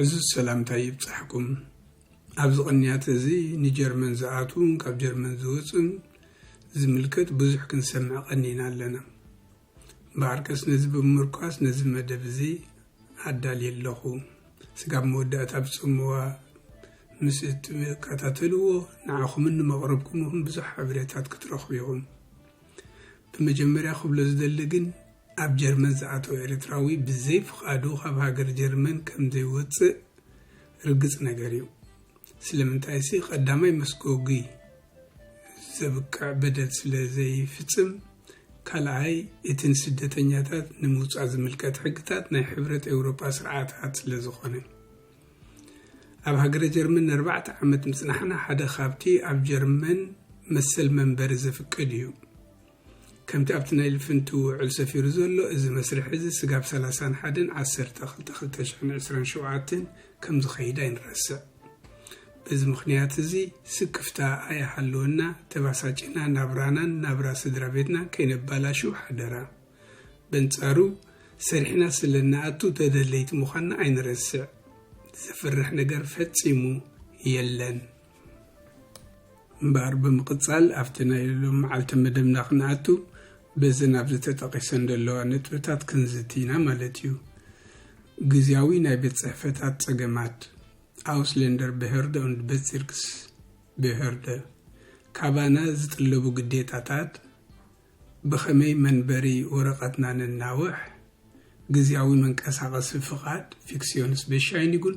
ዕዙዝ ሰላምታ ይብጻሕኩም ኣብዚ ቅንያት እዚ ንጀርመን ዝኣትዉን ካብ ጀርመን ዝወፅን ዝምልከት ብዙሕ ክንሰምዕ ቀኒና ኣለና እምበኣርከስ ነዚ ብምምርኳስ ነዚ መደብ እዚ ኣዳልየ ኣለኹ። ስጋብ መወዳእታ ብጽምዋ ምስ እትከታተልዎ ንዓኹምን ንመቕርብኩምኹን ብዙሕ ሓበሬታት ክትረኽቡ ኢኹም። ብመጀመርያ ክብሎ ዝደሊ ግን ኣብ ጀርመን ዝኣተወ ኤርትራዊ ብዘይ ፍቓዱ ካብ ሃገር ጀርመን ከምዘይወጽእ ርግጽ ነገር እዩ። ስለምንታይሲ ቀዳማይ መስጎጒ ዘብቅዕ በደል ስለ ዘይፍጽም፣ ካልኣይ እቲ ንስደተኛታት ንምውጻእ ዝምልከት ሕግታት ናይ ሕብረት ኤውሮጳ ስርዓታት ስለ ዝኾነ። ኣብ ሃገረ ጀርመን ንኣርባዕተ ዓመት ምጽናሕና ሓደ ካብቲ ኣብ ጀርመን መሰል መንበሪ ዘፍቅድ እዩ። ከምቲ ኣብቲ ናይ ልፍንቲ ውዕል ሰፊሩ ዘሎ እዚ መስርሕ እዚ ስጋብ ሰላሳን ሓደን ዓሰርተ ክልተ ክልተ ሽሕን ዕስራን ሸውዓተን ከም ዝኸይድ ኣይንረስዕ። በዚ ምኽንያት እዚ ስክፍታ ኣይሃልወና ተባሳጪና ናብራናን ናብራ ስድራ ቤትናን ከይነባላሹ ሓደራ። በንጻሩ ሰሪሕና ስለ እንኣቱ ተደለይቲ ምዃንና ኣይንረስዕ። ዘፍርሕ ነገር ፈጺሙ የለን። እምበኣር ብምቕጻል ኣብቲ ናይ ሎም መዓልቲ መደብና ክንኣቱ በዘን ኣብዚ ተጠቒሰን ዘለዋ ነጥብታት ክንዝቲ ኢና ማለት እዩ ግዜያዊ ናይ ቤት ጽሕፈታት ጸገማት ኣውስሌንደር ብሄርደ ኡንድ ቤትሲርክስ ብሄርደ ካባና ዝጥለቡ ግዴታታት ብኸመይ መንበሪ ወረቐትና ነናውሕ ግዜያዊ መንቀሳቐሲ ፍቓድ ፊክስዮንስ ቤሻይኒጉን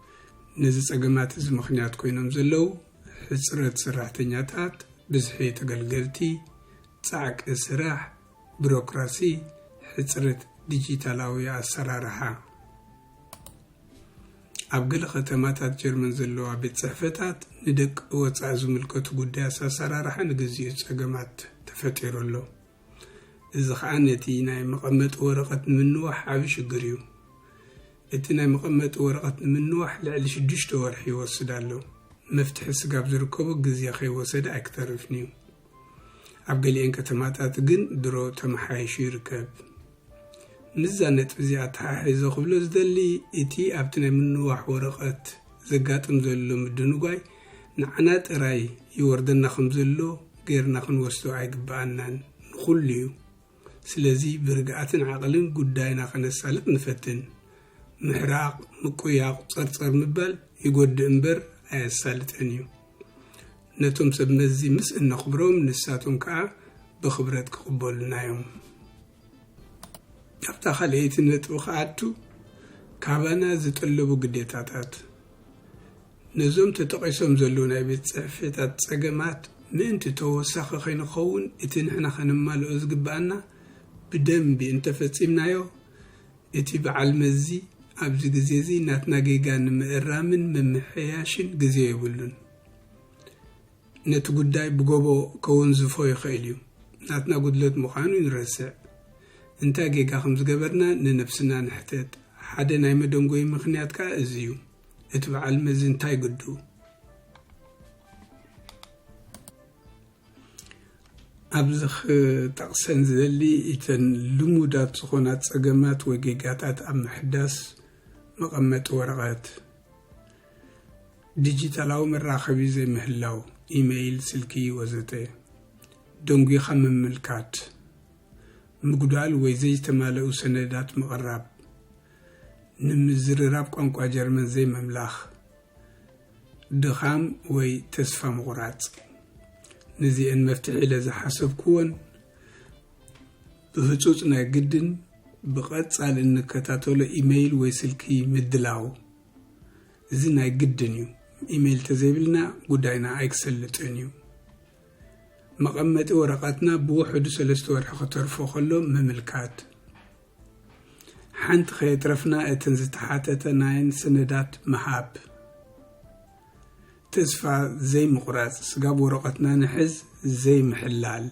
ነዚ ፀገማት እዚ ምኽንያት ኮይኖም ዘለው ሕፅረት ሰራሕተኛታት፣ ብዝሒ ተገልገልቲ፣ ፃዕቂ ስራሕ፣ ቢሮክራሲ፣ ሕፅረት ዲጂታላዊ ኣሰራርሓ። ኣብ ገለ ከተማታት ጀርመን ዘለዋ ቤት ፅሕፈታት ንደቂ ወፃኢ ዝምልከቱ ጉዳያት ኣሰራርሓ ንግዚኡ ፀገማት ተፈጢሩ ኣሎ። እዚ ከዓ ነቲ ናይ መቐመጢ ወረቐት ንምንዋሕ ዓብዪ ሽግር እዩ። እቲ ናይ መቐመጢ ወረቐት ንምንዋሕ ልዕሊ ሽዱሽተ ወርሒ ይወስድ ኣሎ። መፍትሒ ስጋብ ዝርከቦ ግዜ ከይወሰደ ኣይክተርፍን'ዩ። ኣብ ገሊኤን ከተማታት ግን ድሮ ተመሓይሹ ይርከብ። ምስዛ ነጥቢ'ዚ ኣተሓሒዘ ክብሎ ዝደሊ እቲ ኣብቲ ናይ ምንዋሕ ወረቐት ዘጋጥም ዘሎ ምድንጓይ ንዓና ጥራይ ይወርደና ከምዘሎ ገይርና ክንወስዶ ኣይግበኣናን። ንኹሉ'ዩ። ስለዚ ብርግኣትን ዓቕልን ጉዳይና ከነሳልጥ ንፈትን። ምሕራቕ፣ ምቁያቕ፣ ጸርጸር ምባል ይጎድእ እምበር ኣየሳልጥን እዩ። ነቶም ሰብ መዚ ምስ እነኽብሮም ንሳቶም ከኣ ብኽብረት ክቕበሉና እዮም። ኣብታ ካልኣይቲ ነጥቢ ክኣቱ ካባና ዝጥለቡ ግዴታታት ነዞም ተጠቒሶም ዘለዉ ናይ ቤት ጽሕፌታት ጸገማት ምእንቲ ተወሳኺ ከይንኸውን እቲ ንሕና ከነማልኦ ዝግበኣና ብደምቢ እንተፈጺምናዮ እቲ በዓል መዚ ኣብዚ ግዜዚ ናትና ጌጋ ንምእራምን ምምሕያሽን ግዜ የብሉን ነቲ ጉዳይ ብጎቦ ከወንዝፎ ይኽእል እዩ ናትና ጉድለት ምዃኑ ንረስዕ እንታይ ጌጋ ከምዝገበርና ንነብስና ንሕተት ሓደ ናይ መደንጎዪ ምኽንያት ከኣ እዚ እዩ። እቲ በዓል መዚ እንታይ ግዱ? ኣብዚ ክጠቕሰን ዝደሊ እተን ልሙዳት ዝኾና ጸገማት ወይ ጌጋታት ኣብ ምሕዳስ መቐመጢ ወረቐት፣ ዲጂታላዊ መራኸቢ ዘይምህላው፣ ኢመይል፣ ስልኪ ወዘተ፣ ደንጒኻ ምምልካት፣ ምጉዳል ወይ ዘይተማለኡ ሰነዳት ምቕራብ፣ ንምዝርራብ ቋንቋ ጀርመን ዘይምምላኽ፣ ድኻም ወይ ተስፋ ምቑራጽ። ንዚኤን መፍትሒ ኢለ ዝሓሰብኩወን ብህጹጽ ናይ ግድን ብቐጻሊ እንከታተሎ ኢመይል ወይ ስልኪ ምድላው። እዚ ናይ ግድን እዩ። ኢመይል ተዘይብልና ጉዳይና ኣይክሰልጥን እዩ። መቐመጢ ወረቐትና ብውሕዱ ሰለስተ ወርሒ ክተርፎ ከሎ ምምልካት። ሓንቲ ከየትረፍና እትን ዝተሓተተ ናይን ስነዳት ምሃብ ተስፋ ዘይምቑራፅ ስጋብ ወረቐትና ንሕዝ ዘይምሕላል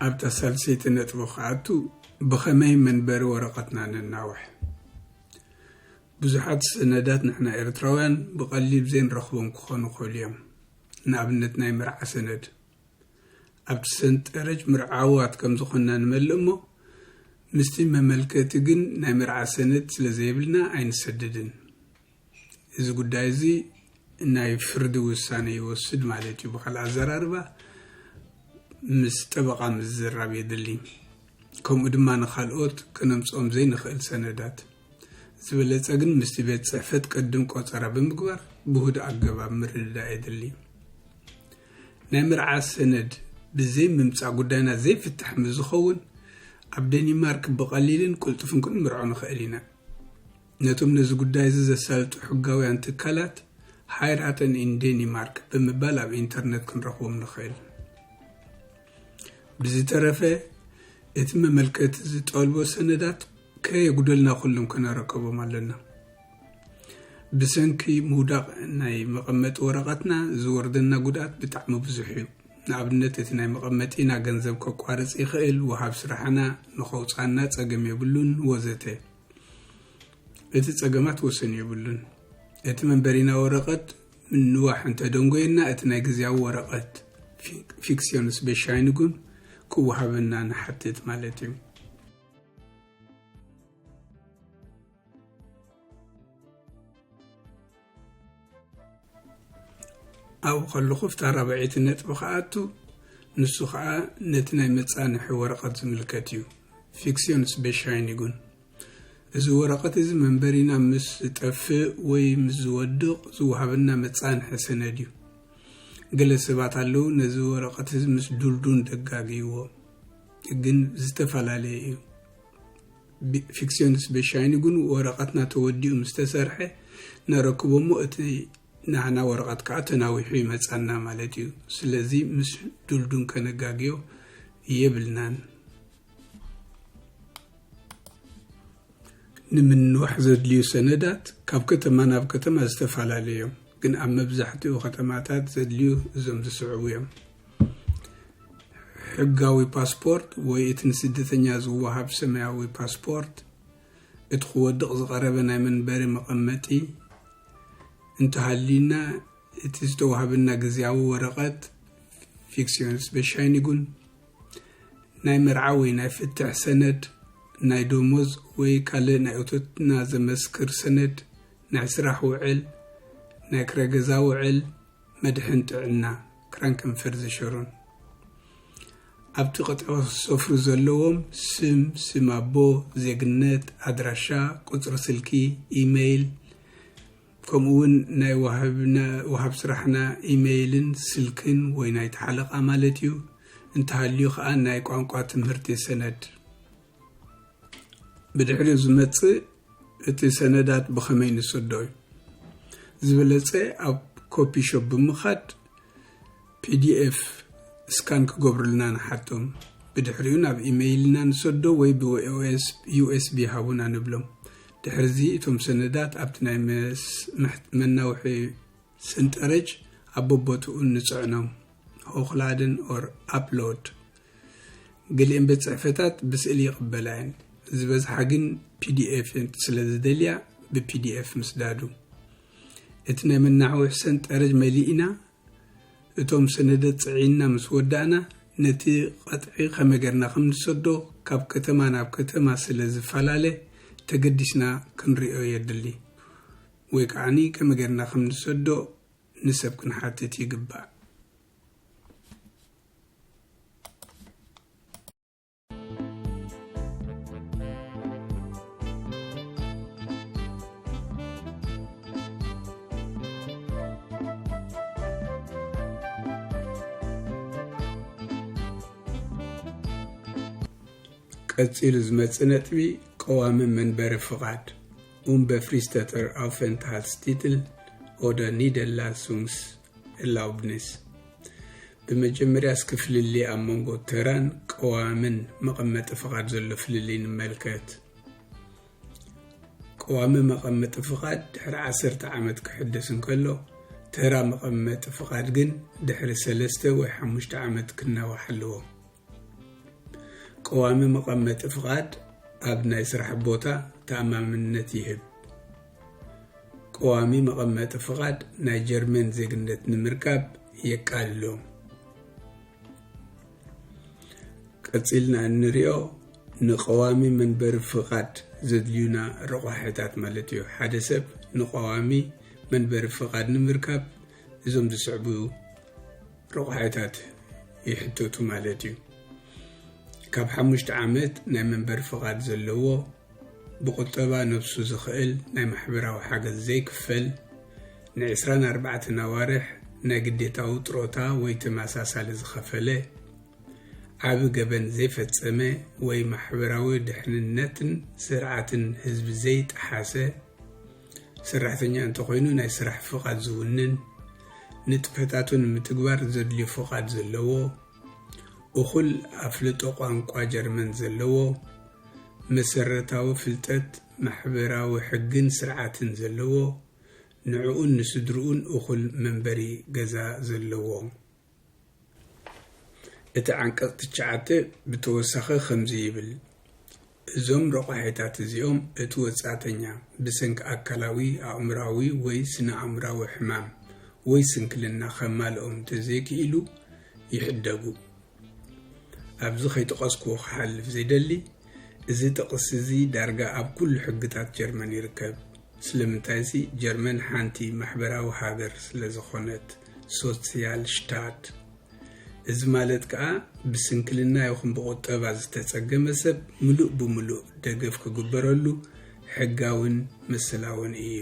ኣብታ ሳልሰይቲ ነጥቢ ክኣቱ ብኸመይ መንበሪ ወረቐትና ነናውሕ ብዙሓት ሰነዳት ንሕና ኤርትራውያን ብቐሊል ዘይንረኽቦም ክኾኑ ክእሉ እዮም ንኣብነት ናይ መርዓ ሰነድ ኣብቲ ሰንጠረጅ ምርዓዋት ከም ዝኾንና ንመልእ እሞ ምስቲ መመልከቲ ግን ናይ መርዓ ሰነድ ስለ ዘይብልና ኣይንሰደድን። እዚ ጉዳይ እዚ ናይ ፍርዲ ውሳነ ይወስድ ማለት እዩ። ብካልእ ኣዘራርባ ምስ ጠበቓ ምዝራብ የድሊ። ከምኡ ድማ ንካልኦት ከነምጽኦም ዘይንኽእል ሰነዳት። ዝበለፀ ግን ምስቲ ቤት ፅሕፈት ቅድም ቆፀራ ብምግባር ብሁድ ኣገባብ ምርድዳእ የድሊ። ናይ መርዓ ሰነድ ብዘይ ምምፃእ ጉዳይና ዘይፍታሕ ምስ ዝኸውን ኣብ ደኒማርክ ብቐሊልን ቅልጡፍን ክንምርዖ ንኽእል ኢና። ነቶም ነዚ ጉዳይ እዚ ዘሳልጡ ሕጋውያን ትካላት ሃይራተን ኢን ዴኒማርክ ብምባል ኣብ ኢንተርነት ክንረኽቦም ንኽእል። ብዝተረፈ እቲ መመልከቲ ዝጠልቦ ሰነዳት ከየጉደልና ኩሎም ከነረከቦም ኣለና። ብሰንኪ ምውዳቕ ናይ መቐመጢ ወረቐትና ዝወርደና ጉድኣት ብጣዕሚ ብዙሕ እዩ። ንኣብነት እቲ ናይ መቐመጢና ገንዘብ ከቋርፅ ይኽእል፣ ወሃብ ስራሕና ንኸውፅኣና ፀገም የብሉን ወዘተ። እቲ ፀገማት ወሰን የብሉን። እቲ መንበሪና ወረቐት ምንዋሕ እንተደንጎየና እቲ ናይ ግዝያዊ ወረቐት፣ ፊክሲዮንስ ቤሻይንጉን፣ ክወሃበና ንሓትት ማለት እዩ። ኣብኡ ከለኹ ኣብታ ራብዐይቲ ነጥቢ ክኣቱ ንሱ ከዓ ነቲ ናይ መፃንሒ ወረቐት ዝምልከት እዩ ፊክሲዮንስ ቤሻይን ይጉን እዚ ወረቐት እዚ መንበሪና ምስ ዝጠፍእ ወይ ምስ ዝወድቕ ዝወሃበና መፃንሒ ሰነድ እዩ ገለ ሰባት ኣለዉ ነዚ ወረቐት እዚ ምስ ዱልዱን ደጋግይዎ ግን ዝተፈላለየ እዩ። ፊክሲዮንስ በሻይኒ ግን ወረቐትና ተወዲኡ ምስ ተሰርሐ ነረክቦ እሞ እቲ ናህና ወረቐት ከዓ ተናዊሑ ይመፃና ማለት እዩ። ስለዚ ምስ ዱልዱን ከነጋግዮ የብልናን። ንምንዋሕ ዘድልዩ ሰነዳት ካብ ከተማ ናብ ከተማ ዝተፈላለዩ እዮም፣ ግን ኣብ መብዛሕትኡ ከተማታት ዘድልዩ እዞም ዝስዕቡ እዮም። ሕጋዊ ፓስፖርት ወይ እቲ ንስደተኛ ዝወሃብ ሰማያዊ ፓስፖርት፣ እቲ ክወድቕ ዝቐረበ ናይ መንበሪ መቐመጢ እንተሃልዩና፣ እቲ ዝተዋህበና ግዝያዊ ወረቐት፣ Fiktionsbescheinigung፣ ናይ መርዓ ወይ ናይ ፍትሕ ሰነድ፣ ናይ ደሞዝ ወይ ካልእ ናይ እቶትና ዘመስክር ሰነድ፣ ናይ ስራሕ ውዕል፣ ናይ ክራይ ገዛ ውዕል፣ መድሕን ጥዕና። ክረን ቅንፍር ዝሸሩን ኣብቲ ቅጥዖ ዝሰፍሩ ዘለዎም ስም፣ ስም ኣቦ፣ ዜግነት፣ ኣድራሻ፣ ቁጽሪ ስልኪ፣ ኢመይል፣ ከምኡ ውን ናይ ወሃብ ስራሕና ኢመይልን ስልክን ወይ ናይቲ ሓለቓ ማለት እዩ፣ እንተሃልዩ ከኣ ናይ ቋንቋ ትምህርቲ ሰነድ። ብድሕሪኡ ዝመፅእ እቲ ሰነዳት ብኸመይ ንሰዶ እዩ ዝበለፀ ኣብ ኮፒ ሾፕ ብምኻድ ፒዲኤፍ ስካን ክገብሩልና ንሓቶም ብድሕሪኡ ናብ ኢመይልና ንሰዶ ወይ ብዩኤስቢ ሃቡና ንብሎም ድሕርዚ እቶም ሰነዳት ኣብቲ ናይ መናውሒ ስንጠረጅ ኣብ ቦቦትኡ ንፅዕኖም ሆክላድን ኦር ኣፕሎድ ገሊኤን ቤት ጽሕፈታት ብስእሊ ይቕበላ እየን፣ ዝበዝሓ ግን pdf ስለ ዝደልያ ብpdf ምስዳዱ። እቲ ናይ መናዕውሒ ሰንጠረዥ መሊእና እቶም ሰነደት ጽዒንና ምስ ወዳእና ነቲ ቐጥዒ ከመይ ገርና ከም ንሰዶ ካብ ከተማ ናብ ከተማ ስለ ዝፈላለ ተገዲስና ክንሪኦ የድሊ ወይ ከዓኒ ከመይ ገርና ከም ንሰዶ ንሰብ ክንሓትት ይግባእ። ቀፂሉ ዝመፅእ ነጥቢ ቀዋሚ መንበሪ ፍቓድ ኡምበፍሪስተተር ኣውፈንትሃልስ ቲትል ኦደ ኒደላሱንግስ ላውድነስ ብመጀመርያ እስኪ ፍልልይ ኣብ መንጎ ተራን ቀዋምን መቐመጢ ፍቓድ ዘሎ ፍልልይ ንመልከት። ቀዋሚ መቐመጢ ፍቓድ ድሕሪ ዓሰርተ ዓመት ክሕደስ እንከሎ ተራ መቐመጢ ፍቓድ ግን ድሕሪ ሰለስተ ወይ ሓሙሽተ ዓመት ክናዋሕ ኣለዎ። ቀዋሚ መቐመጢ ፍቓድ ኣብ ናይ ስራሕ ቦታ ተኣማምነት ይህብ። ቀዋሚ መቐመጢ ፍቓድ ናይ ጀርመን ዜግነት ንምርካብ የቃልሎ። ቀጺልና እንሪኦ ንቀዋሚ መንበሪ ፍቓድ ዘድልዩና ረቋሒታት ማለት እዩ። ሓደ ሰብ ንቀዋሚ መንበሪ ፍቓድ ንምርካብ እዞም ዝስዕቡ ረቑሓታት ይሕተቱ ማለት እዩ። ካብ ሓሙሽተ ዓመት ናይ መንበሪ ፍቓድ ዘለዎ ብቁጠባ ነብሱ ዝኽእል ናይ ማሕበራዊ ሓገዝ ዘይክፈል ንዕስራን ኣርባዕተን ኣዋርሕ ናይ ግዴታዊ ጥሮታ ወይ ተመሳሳሊ ዝኸፈለ ዓቢ ገበን ዘይፈጸመ ወይ ማሕበራዊ ድሕንነትን ስርዓትን ህዝቢ ዘይጠሓሰ ሰራሕተኛ እንተኾይኑ ናይ ስራሕ ፍቓድ ዝውንን፣ ንጥፈታቱ ንምትግባር ዘድልዩ ፍቓድ ዘለዎ፣ እኹል ኣፍልጦ ቋንቋ ጀርመን ዘለዎ፣ መሰረታዊ ፍልጠት ማሕበራዊ ሕግን ስርዓትን ዘለዎ፣ ንዕኡን ንስድርኡን እኹል መንበሪ ገዛ ዘለዎ። እቲ ዓንቀጽ ትሽዓተ ብተወሳኺ ከምዚ ይብል፣ እዞም ረቋሒታት እዚኦም እቲ ወጻእተኛ ብሰንኪ ኣካላዊ፣ ኣእምሮኣዊ ወይ ስነ-ኣእምሮኣዊ ሕማም ወይ ስንክልና ከማልኦም እንተዘይክኢሉ ይሕደጉ። ኣብዚ ከይጠቐስኩዎ ክሓልፍ ዘይደሊ፣ እዚ ጥቕሲ እዚ ዳርጋ ኣብ ኩሉ ሕግታት ጀርመን ይርከብ። ስለምንታይሲ ጀርመን ሓንቲ ማሕበራዊ ሃገር ስለ ዝኾነት፣ Sozialstaat። እዚ ማለት ከኣ ብስንክልና ይኹን ብቑጠባ ዝተጸገመ ሰብ ምሉእ ብምሉእ ደገፍ ክግበረሉ ሕጋውን መሰላውን እዩ።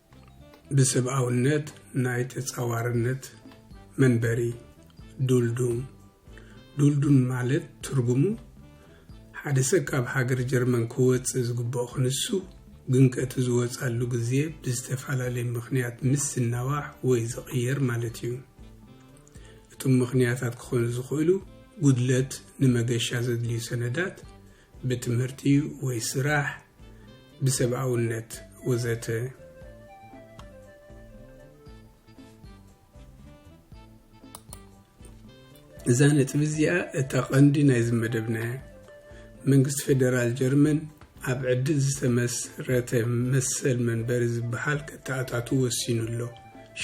ብስብኣውነት ናይ ተጻዋርነት መንበሪ ዱልዱም ዱልዱም ማለት ትርጉሙ ሓደ ሰብ ካብ ሃገር ጀርመን ክወጽእ ዝግብኦ ክንሱ ግንቀቲ ዝወጻሉ ግዜ ብዝተፈላለየ ምኽንያት ምስ ዝናዋሕ ወይ ዝቕየር ማለት እዩ። እቶም ምኽንያታት ክኾኑ ዝኽእሉ ጉድለት ንመገሻ ዘድልዩ ሰነዳት፣ ብትምህርቲ ወይ ስራሕ፣ ብሰብኣውነት ወዘተ። እዛ ነጥቢ እዚኣ እታ ቀንዲ ናይዚ መደብና እያ መንግስቲ ፌደራል ጀርመን ኣብ ዕድል ዝተመስረተ መሰል መንበሪ ዝበሃል ከተኣታቱ ወሲኑ ኣሎ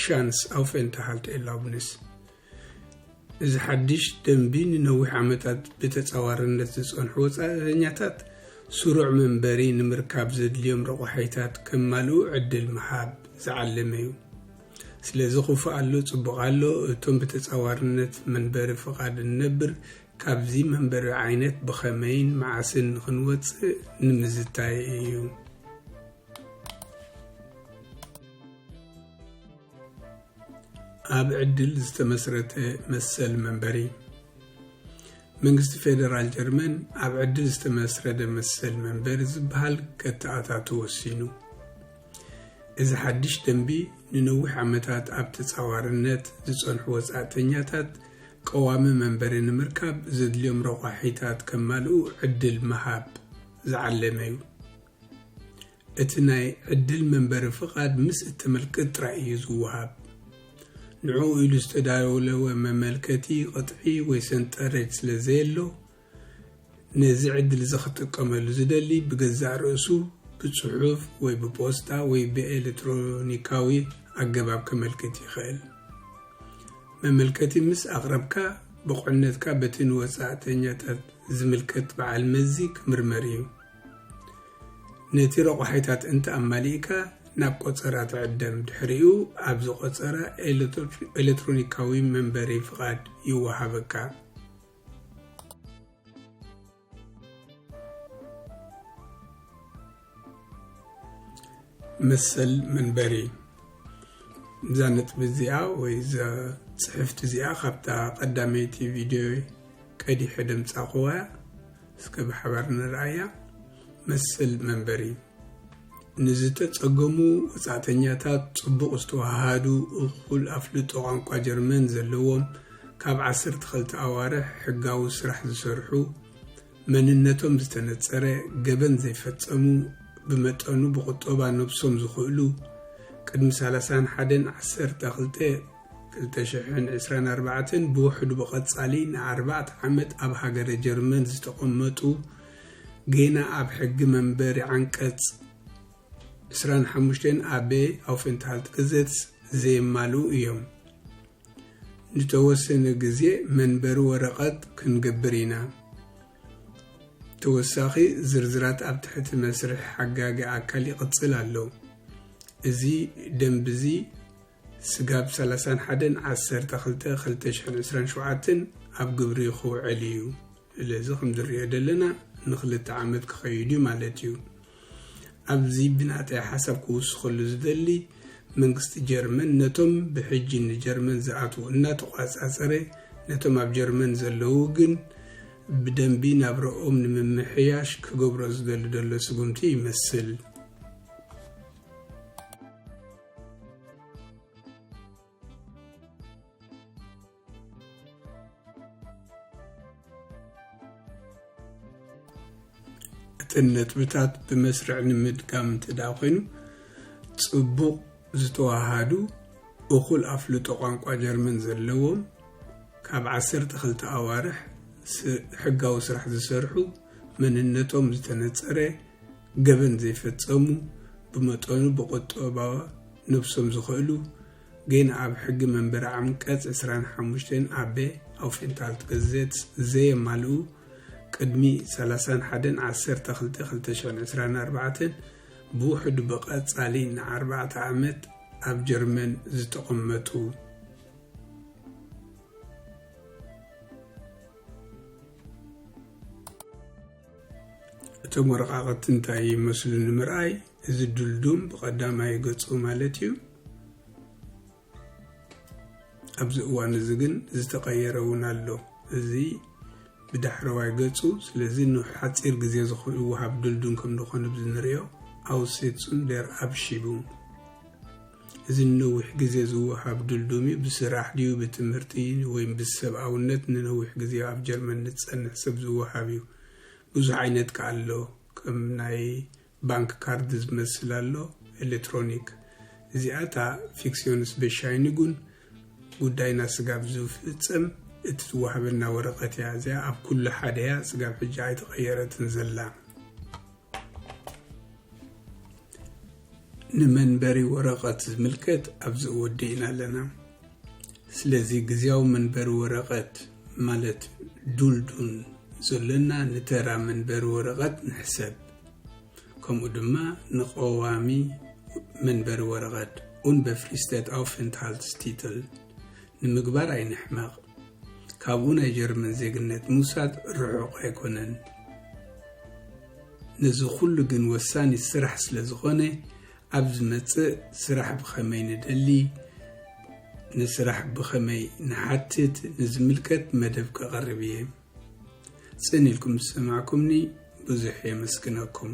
ሻንስ ኣውፌንታሃልት ኤላብንስ እዚ ሓድሽ ደንቢ ንነዊሕ ዓመታት ብተጻዋርነት ዝጸንሑ ወጻእተኛታት ስሩዕ መንበሪ ንምርካብ ዘድልዮም ረቋሒታት ከማልኡ ዕድል ምሃብ ዝዓለመ እዩ። ስለዚ ክፉእ ኣሎ ጽቡቕ ኣሎ፣ እቶም ብተጻዋርነት መንበሪ ፍቓድ እንነብር ካብዚ መንበሪ ዓይነት ብኸመይን መዓስን ክንወጽእ ንምዝታይ እዩ። ኣብ ዕድል ዝተመስረተ መሰል መንበሪ መንግስቲ ፌደራል ጀርመን ኣብ ዕድል ዝተመስረደ መሰል መንበሪ ዝበሃል ከተኣታቱ ወሲኑ እዚ ሓድሽ ደንቢ ንነዊሕ ዓመታት ኣብ ተጻዋርነት ዝጸንሑ ወጻእተኛታት ቀዋሚ መንበሪ ንምርካብ ዘድልዮም ረቋሒታት ከማልኡ ዕድል ምሃብ ዝዓለመ እዩ እቲ ናይ ዕድል መንበሪ ፍቓድ ምስ እተመልክት ጥራይ እዩ ዝወሃብ። ንዕኡ ኢሉ ዝተዳለወ መመልከቲ ቅጥዒ ወይ ሰንጠረጅ ስለ ዘየሎ፣ ነዚ ዕድል እዚ ክጥቀመሉ ዝደሊ ብገዛእ ርእሱ ብጽሑፍ ወይ ብፖስታ ወይ ብኤለትሮኒካዊ ኣገባብ ከመልክት ይኽእል። መመልከቲ ምስ ኣቕረብካ፣ ብቑዕነትካ በቲ ንወጻእተኛታት ዝምልከት በዓል መዚ ክምርመር እዩ። ነቲ ረቋሒታት እንተ ኣማሊእካ ናብ ቆጸራ ትዕደም፣ ድሕሪኡ ኣብዚ ቆጸራ ኤለትሮኒካዊ መንበሪ ፍቓድ ይወሃበካ። መሰል መንበሪ እዛ ነጥቢ እዚኣ ወይ እዛ ጽሕፍቲ እዚኣ ካብታ ቀዳመይቲ ቪድዮ ቀዲሐ ደምጻኹዋ እስከ ብሓባር ንርኣያ መስል መንበሪ ንዝተጸገሙ ወጻእተኛታት ጽቡቕ ዝተዋሃሃዱ እኹል ኣፍልጦ ቋንቋ ጀርመን ዘለዎም ካብ ዓሰርተ ክልተ ኣዋርሕ ሕጋዊ ስራሕ ዝሰርሑ መንነቶም ዝተነጸረ ገበን ዘይፈጸሙ ብመጠኑ ብቑጠባ ነብሶም ዝኽእሉ ቅድሚ ሰላሳን ሓደን ዓሰርተ ክልተ ክልተ ሽሕን ዕስራን ኣርባዕተን ብውሕዱ ብቐጻሊ ንኣርባዕተ ዓመት ኣብ ሃገረ ጀርመን ዝተቐመጡ ጌና ኣብ ሕጊ መንበሪ ዓንቀጽ ዕስራን ሓሙሽተን ኣበ ኣውፌንትሃልት ግዘትስ ዘየማልኡ እዮም። ንተወሰነ ግዜ መንበሪ ወረቐት ክንገብር ኢና። ተወሳኺ ዝርዝራት ኣብ ትሕቲ መስርሕ ሓጋጊ ኣካል ይቕጽል ኣሎ። እዚ ደንብዚ ስጋብ ሰላሳን ሓደን ዓሰርተ ክልተ ክልተ ሽሕን ዕስራን ሸውዓተን ኣብ ግብሪ ክውዕል እዩ። ስለዚ ከምዝንሪኦ ዘለና ንክልተ ዓመት ክኸይድ እዩ ማለት እዩ። ኣብዚ ብናተይ ሓሳብ ክውስኸሉ ዝደሊ መንግስቲ ጀርመን ነቶም ብሕጂ ንጀርመን ዝኣትዉ እናተቋፃፀረ ነቶም ኣብ ጀርመን ዘለዉ ግን ብደንቢ ናብረኦም ንምምሕያሽ ክገብሮ ዝደሊ ደሎ ስጉምቲ ይመስል። እተን ነጥብታት ብመስርዕ ንምድጋም እንተ ኮይኑ ጽቡቕ ዝተዋሃዱ እኹል ኣፍልጦ ቋንቋ ጀርመን ዘለዎም ካብ 12 ኣዋርሕ ሕጋዊ ስራሕ ዝሰርሑ መንነቶም ዝተነጸረ ገበን ዘይፈጸሙ ብመጠኑ ብቁጠባዊ ነብሶም ዝኸእሉ ግን ኣብ ሕጊ መንበሪ ዓንቀጽ ዕስራን ሓሙሽተን ኣበ Aufenthaltgesetz ዘየማልኡ ቅድሚ ሰላሳን ሓደን ዓሰርተ ክልተ ክልተ ሽሕን ዕስራን ኣርባዕተን ብውሕዱ ብቐጻሊ ንኣርባዕተ ዓመት ኣብ ጀርመን ዝተቐመጡ እቶም ወረቓቕቲ እንታይ ይመስሉ ንምርኣይ እዚ ድልዱም ብቐዳማይ ገጹ ማለት እዩ ኣብዚ እዋን እዚ ግን ዝተቐየረ እውን ኣሎ እዚ ብዳሕረዋይ ገጹ ስለዚ ንሓፂር ግዜ ዝወሃብ ድልዱም ከም ዝኾነ ብዝንሪኦ ኣውሴትሱን ደር ኣብሺቡም እዚ ንነዊሕ ግዜ ዝወሃብ ድልዱም'ዩ። ብስራሕ ድዩ ብትምህርቲ ወይም ብሰብኣውነት ንነዊሕ ግዜ ኣብ ጀርመን ንዝጸንሕ ሰብ ዝወሃብ'ዩ። ብዙሕ ዓይነት ከኣ ኣሎ። ከም ናይ ባንክ ካርድ ዝመስል ኣሎ፣ ኤለትሮኒክ። እዚኣ እታ Fiktionsbescheinigung፣ ጉዳይና ስጋብ ዝፍጸም እትወሃበና ወረቐት'ያ። እዚኣ ኣብ ኩሉ ሓደ'ያ፣ ስጋብ ሕጂ ኣይተቐየረትን ዘላ። ንመንበሪ ወረቐት ዝምልከት ኣብዚ ወዲእና ኣለና ስለዚ ግዜያዊ መንበሪ ወረቐት ማለት ዱልዱን ዘሎና ንተራ መንበሪ ወረቐት ንሕሰብ ከምኡ ድማ ንቀዋሚ መንበሪ ወረቐት ኡንበፍሪስተት ኣውፍንትሃልትስ ቲትል ንምግባር ኣይንሕመቕ። ካብኡ ናይ ጀርመን ዜግነት ምውሳድ ርሑቕ ኣይኮነን። ነዚ ኩሉ ግን ወሳኒ ስራሕ ስለ ዝኾነ ኣብ ዝመጽእ ስራሕ ብኸመይ ንደሊ፣ ንስራሕ ብኸመይ ንሓትት ንዝምልከት መደብ ከቐርብ እየ። ጽን ኢልኩም ዝሰማዕኩምኒ ብዙሕ የመስግነኩም።